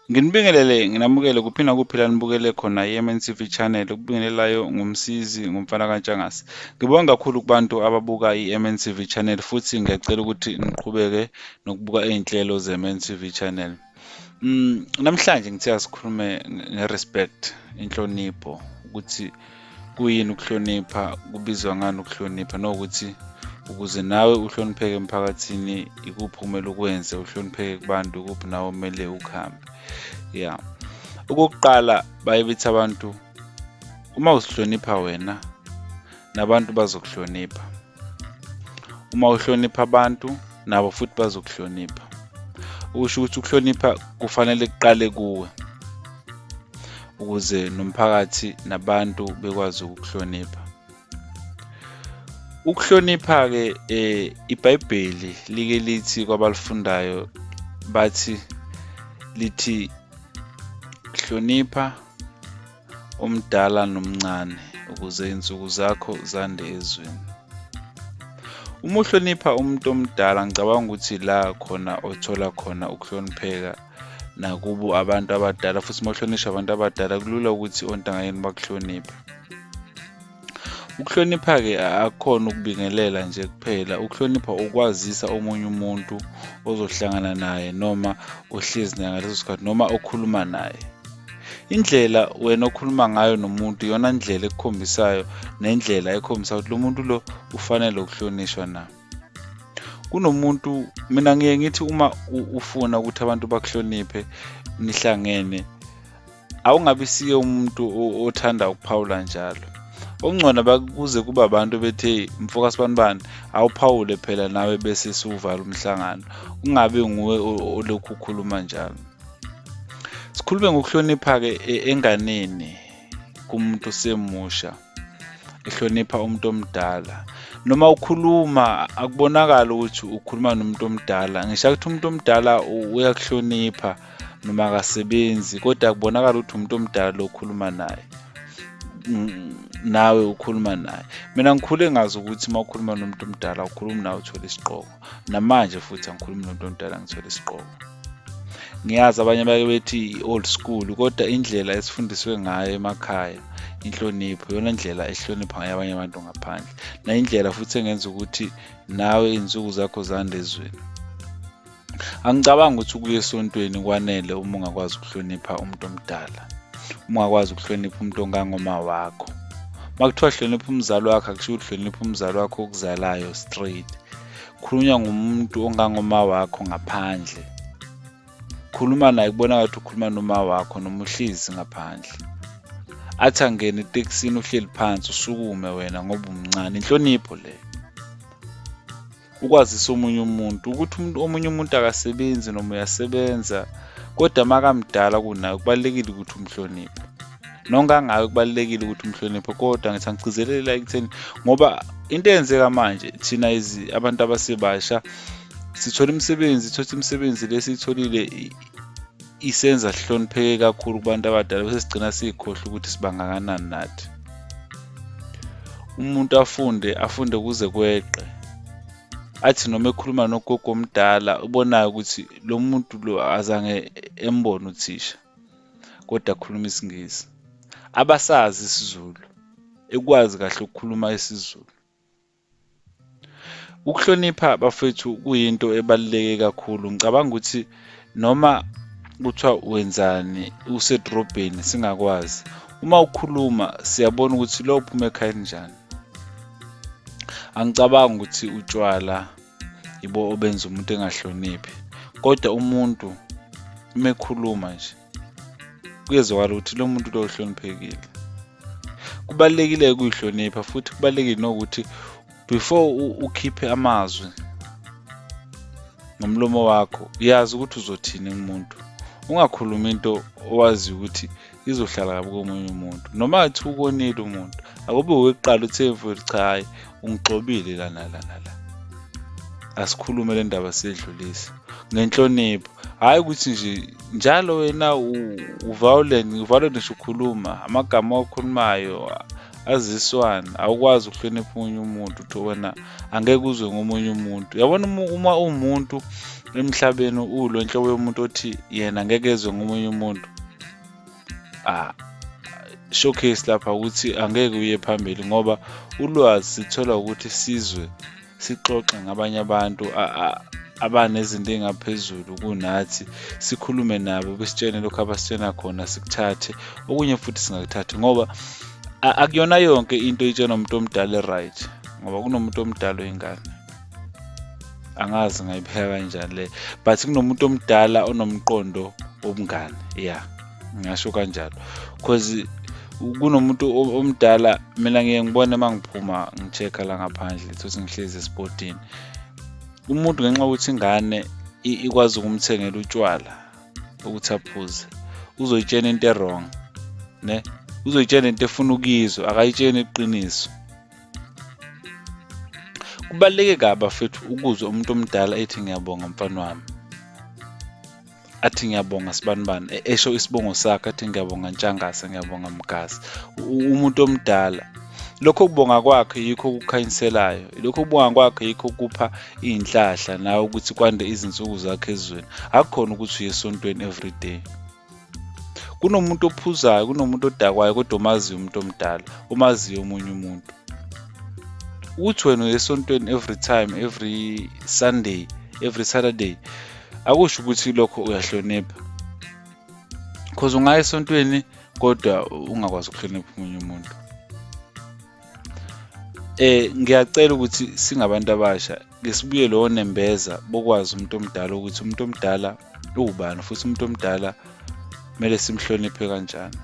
Nginibingelele nginamukele kuphi nakuphi la nibukele khona i-MNCV channel ukubingelelayo ngumsizi ngumfana kaNtshangase ngibonga kakhulu kubantu ababuka i-MNCV channel futhi ngiyacela ukuthi niqhubeke nokubuka iy'nhlelo ze-MNCV channel mm, namhlanje ngithe asikhulume nge-respect inhlonipho ukuthi kuyini ukuhlonipha kubizwa ngani ukuhlonipha nokuthi ukuze nawe uhlonipheke emphakathini ikuphi okumele ukwenze uhlonipheke kubantu ikuphi nawe kumele ukuhambe ya okokuqala baye bethi abantu uma uzihlonipha wena nabantu bazokuhlonipha uma uhlonipha abantu nabo futhi bazokuhlonipha ukusho ukuthi ukuhlonipha kufanele kuqale kuwe ukuze nomphakathi nabantu bekwazi ukukuhlonipha ukuhlonipha-ke um ibhayibheli like lithi kwabalifundayo bathi lithi hlonipha omdala nomncane, ukuze insuku zakho zande ezweni. Uma uhlonipha umuntu omdala, ngicabanga ukuthi la khona othola khona ukuhlonipheka nakubo abantu abadala, futhi uma uhlonishwa abantu abadala kulula ukuthi ontangayeni bakuhloniphe. Ukuhlonipha-ke akukhona ukubingelela nje kuphela, ukuhlonipha ukwazisa omunye umuntu ozohlangana naye noma ohlezi naye ngaleso sikhathi noma okhuluma naye. Indlela wena okhuluma ngayo nomuntu iyona ndlela ekukhombisayo nendlela ekhombisa ukuthi lo muntu lo ufanele ukuhlonishwa na. Kunomuntu mina ngiye ngithi uma ufuna ukuthi abantu bakuhloniphe nihlangene awungabi siye umuntu othanda ukuphawula njalo okungcono bakuze kuba abantu bethe mfoka sibanibani awuphawule phela nawe bese siwuvala umhlangano kungabe nguwe olokhu ukhuluma njalo sikhulume ngokuhlonipha-ke e, enganeni kumuntu semusha ehlonipha umuntu omdala noma ukhuluma akubonakala ukuthi ukhuluma nomuntu omdala ngisho ukuthi umuntu omdala uyakuhlonipha noma akasebenzi kodwa akubonakala ukuthi umuntu omdala lo okhuluma naye nawe ukhuluma naye mina ngikhule ngazi ukuthi uma ukhuluma nomuntu omdala ukhuluma nawe uthole isiqoko namanje futhi angikhulumi nomuntu omdala ngithole isiqoko ngiyazi abanye bake bethi i-old school kodwa indlela esifundiswe ngayo emakhaya inhlonipho yona ndlela ehlonipha ngayo abanye abantu ngaphandle nayindlela futhi engenza ukuthi nawe izinsuku zakho zande ezweni angicabangi ukuthi ukuya esontweni kwanele uma ungakwazi ukuhlonipha umuntu omdala uma wakwazi ukuhlonipha umuntu ongangoma wakho uma kuthiwa hlonipha umzali wakho akusho ukuthi hlonipha umzali wakho okuzalayo straight khulunywa ngumuntu ongangoma wakho ngaphandle khuluma naye kubona ngathi ukhuluma noma wakho noma uhlezi ngaphandle athi angene etekisini uhleli phansi usukume wena ngoba umncane inhlonipho leyo ukwazisa omunye umuntu ukuthi umuntu omunye umuntu akasebenzi noma uyasebenza kodwa makamdala kunayo kubalulekile ukuthi umhloniphe nonke angayo kubalulekile ukuthi umhloniphe kodwa ngithi angigcizelela ekutheni ngoba into eyenzeka manje thina abantu abasebasha sithola imisebenzi thola imisebenzi lesiyitholile isenza sihlonipheke kakhulu kubantu abadala bese sigcina sikhohle ukuthi sibangakanani nathi umuntu afunde afunde kuze kweqe athi noma ekhuluma nogogo omdala ubonayo ukuthi lo muntu lo azange embone uthisha kodwa akhuluma isingisi abasazi isizulu ekwazi kahle ukukhuluma isizulu Ukuhlonipha bafethu kuyinto ebaluleke kakhulu. Ngicabanga ukuthi noma kuthiwa wenzani usedrobheni singakwazi. Uma ukhuluma siyabona ukuthi lo uphuma ekhaya elinjani. Angicabangi ukuthi utshwala yibo obenza umuntu engahloniphi, kodwa umuntu uma ekhuluma nje kuyezwakala ukuthi lo muntu lo uhloniphekile kubalulekile ukuyihlonipha futhi kubalulekile nokuthi before ukhiphe amazwi ngomlomo wakho yazi ukuthi uzothini kumuntu ungakhulumi into owazi ukuthi izohlala kabi komunye umuntu noma athi ukonile umuntu akube wokuqala uthi emfowethu cha hhayi ungigxobile la nala nala asikhulume le ndaba sidlulise ngenhlonipho hhayi ukuthi nje njalo wena uviolent uviolent ngisho ukhuluma amagama owakhulumayo aziswana awukwazi ukuhlonipha omunye umuntu uthi wena angeke uzwe ngomunye umuntu yabona uma uwumuntu emhlabeni uwulo nhlobo yomuntu othi yena ngeke ezwe ngomunye umuntu ah, showcase lapha ukuthi angeke uye phambili ngoba ulwazi sithola ukuthi sizwe sixoxe ngabanye abantu abanezinto engaphezulu kunathi sikhulume nabo besitshene lokho abasitshena khona sikuthathe okunye futhi singakuthathi ngoba akuyona yonke into itshenwa umuntu omdala e-right ngoba kunomuntu omdala oyingane angazi ngayipheka kanjani le but kunomuntu omdala onomqondo wobungane ya ngingasho kanjalo cause kunomuntu omdala mina ngiye ngibone uma ngiphuma ngi-check-a la ngaphandle thothi ngihlezi esipotini umuntu ngenxa yokuthi ingane ikwazi ukumthengela utshwala ukuthi aphuze uzoyitshena into e-wrong ne uzoyitshena into efuna ukuyizwa akayitsheni iqiniso Kubaluleke kabi bafethu ukuzwa umuntu omdala ethi ngiyabonga mfana wami. Athi ngiyabonga sibanibani, e- esho isibongo sakhe athi ngiyabonga Ntshangase, ngiyabonga Mgasi. U- Umuntu omdala. Lokho kubonga kwakhe yikho okukhanyiselayo. Lokho kubonga kwakhe yikho kupha iy'nhlahla nawe ukuthi kwande izinsuku zakhe ezweni. Akukhona ukuthi uye esontweni everyday. kunomuntu ophuzayo kunomuntu odakwayo kodwa omaziyo umuntu omdala omaziyo omunye umuntu ukuthi wena uyesontweni every time every sunday every saturday akusho ukuthi lokho uyahlonipha because ungaya esontweni kodwa ungakwazi ukuhlonipha omunye umuntu Eh ngiyacela ukuthi singabantu abasha ke sibuye lo nembeza bokwazi umuntu omdala ukuthi umuntu omdala uwubani futhi umuntu omdala kumele simhloniphe kanjani.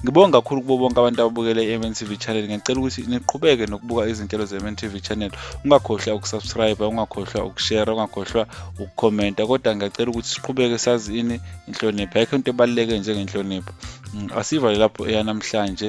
Ngibonga kakhulu kubo bonke abantu ababukele i-MNTV channel. Ngiyacela ukuthi niqhubeke nokubuka izinhlelo ze-MNTV channel. Ungakhohlwa ukusubscribe, ungakhohlwa ukushare, ungakhohlwa ukukhomenta. Kodwa ngiyacela ukuthi siqhubeke sazi ini inhlonipho. Ayikho into ebaluleke njengenhlonipho. Mm, asiva lapho eyanamhlanje